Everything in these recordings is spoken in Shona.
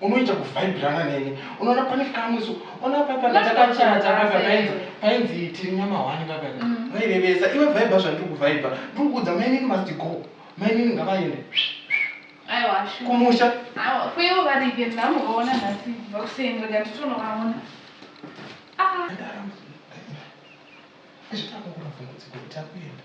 unoita kuvhaibhirana neni unoona pane kamwe so ona papa ndatakachata papa painzi painzi tiri nyama hwani papa mm. vairevesa iwe vhaibha zvandiri kuvhaibha ndiri kuudza mainini must go mainini ngavaende kumusha kuivo varike ndamuvaona nhasi vakuseni rega nditonovaona ah. zvitakukuravhungudziko kuti akuenda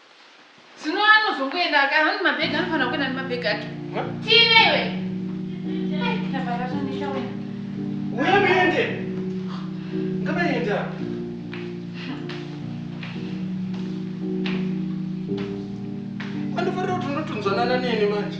Zvino anozongoenda aka hanzi mabhegi anofanira kuenda nemabhegi ake. Tiine iwe. Ai kana baba zvandita wena. Uya muende. Ngavaenda. Anofanira kuti unotunzwanana neni manje.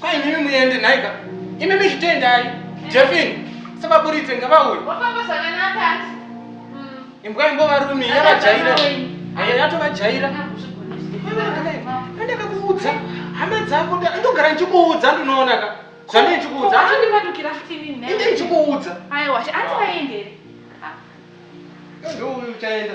Kwai mimi muende nhaika. Imimi zvitendai. Jeffin, sevaburitse ngavauye. Wafamba zvakanaka ati. Imbwa imbova rumi yavajaira. Ayo yatovajaira. Ndakakuudza hama dzako ndogara ndichikuudza ndinoona ka. Zvandiri ndichikuudza. Andipatukira fitini ne. Inde ndichikuudza. Ayo wacha ati vaende. Ndio uyu uchaenda.